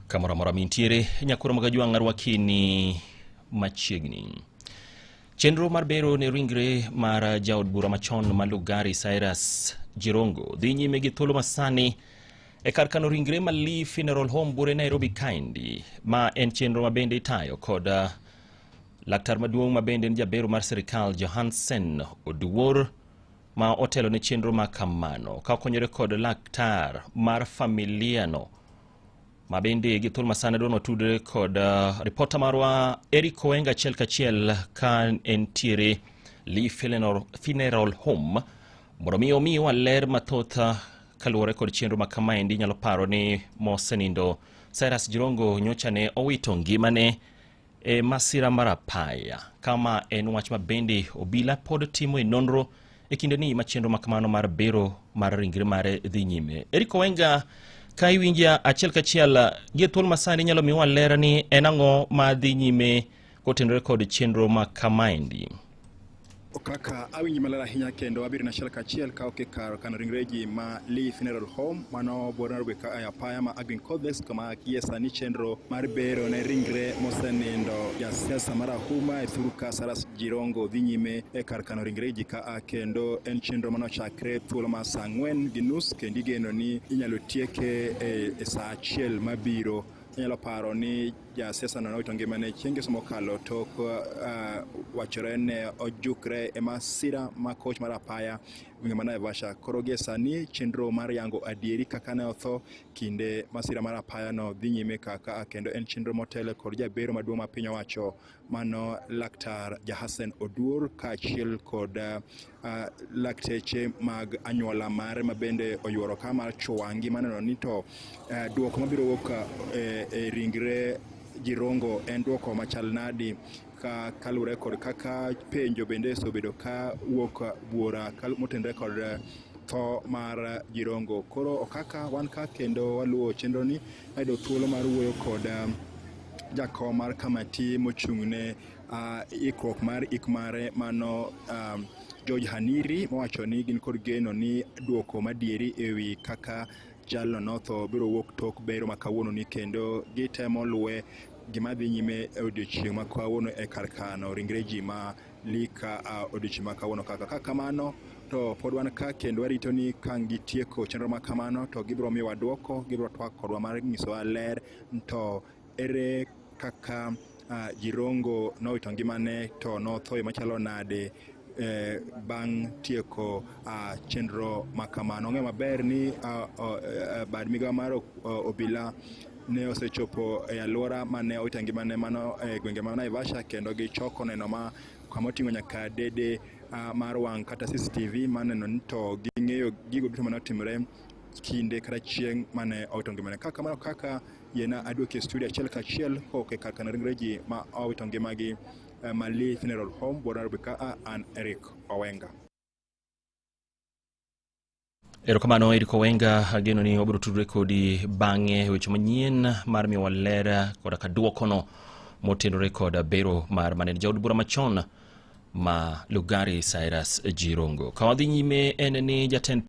kamoro amora mintiere nyakoro mag ajwang' arwakini machiegni chenro mar bero ne ringre mar jaod bura machon ma lugari cyrus jirongo dhi nyime gi thuolo masani e kar kano ringre ma lee funeral home bure nairobi kaindi ma en chenro ma bende itayo kod uh, laktar maduong' ma bende en jabero mar sirikal johansen oduor ma otelo ne chenro ma kamano ka okonyore kod laktar mar familiano ma bende gi thuolo masana dwano tudre kod uh, ripota marwa Eric Owenga achiel kachiel ka entiere Lee Funeral Home mondo mi omiwa ler mathoth uh, kaluwore kod chenro ma kamaendi nyalo paro ni mosenindo Cyrus Jirongo nyocha ne owito ngimane e masira mar apaya kama en wach ma bende obila pod timo e nonro e kinde ni machenro ma kamano mar bero mar ringre mare dhi nyime Eric Owenga ka iwinja achiel kachiel gi thuol masani nyalo miwa lera ni en ang'o ma dhi nyime kotenore kod chenro ma kamaendi kaka awinji maler ahinya kendo abiro na achiel kachiel ka ok ikar kano ringreji ma Lee Funeral Home mano bor Nairobi ka e apaya ma Aggrey Codex kama gie sani chenro mar bero ne ringre mosenindo jasiasa mar Ahuma e thur ka Saras Jirongo dhi nyime e kar kano ringreji ka a kendo en chenro mano chakre thuolo ma saa ang'wen gi nus kendo igeno ni inyalo tieke e, e saa achiel mabiro inyalo paro ni Ja siasa no nawito ngimane chieng' ngeso mokalo tok uh, wachore ne ojukre e masira ma koch mar apaya gwenge ma Naivasha. Koro gie sani chenro mar yango adieri kaka ne otho kinde masira mar apaya no dhi nyime kaka kendo en chenro motele kod jabero maduong' ma piny owacho mano laktar Jahasen Oduor kaachiel kod uh, uh, lakteche mag anyuola mare ma bende oyuoro ka mar Chwangi maneno ni to uh, eh, duoko mabiro wuok eh, e ringre Jirongo en duoko machal nadi ka kalure kod kaka penjo bende osebedo ka wuok buora motenre kod eh, tho mar Jirongo. Koro okaka wan ka kendo waluwo chenro ni ayudo thuolo mar wuoyo kod jakom mar kamati mochung'ne uh, ikruok mar ik mare mano um, George Haniri mowacho ni gin kod geno ni duoko madieri ewi kaka jalno notho biro wuok tok bero ma kawuono ni kendo gitemo luwe gima dhi nyime e odiochieng' ma kawuono e kar kano ringre ji ma lika a odiochieng' ma kawuono kaka ka kamano to pod wan ka kendo warito ni ka gitieko chenro ma kamano to gibiro miwa dwoko gibiro twak kodwa mar nyisowa ler to Ere kaka uh, Jirongo nowito ngimane to nothoyo machalo nade eh, bang' tieko uh, chenro ma kamano. Ong'e maber ni uh, uh, bad migawo mar uh, obila ne osechopo e alwora mane owita ngimane mano e gwenge ma Naivasha kendo gichoko neno ma kama oting'o nyaka dede uh, mar wang' kata CCTV maneno ni to ging'eyo gigo duto mane otimore kinde kata chieng' mane owito ngimane. Ka kamano kaka yena aduoke e studio achiel kachiel kok e kar kano ringre ji ma owito ngimagi eh, Mali Funeral Home Buora Nairobi ka a an Eric Owenga. Erokamano Eric Owenga, ageno ni wabiro tudore kodi bang'e e weche manyien mar miyowa ler koda ka dwokono motenore kod bero mar manene jaod bura machon ma Lugari Cyrus Jirongo. Ka wadhi nyime en ni jatend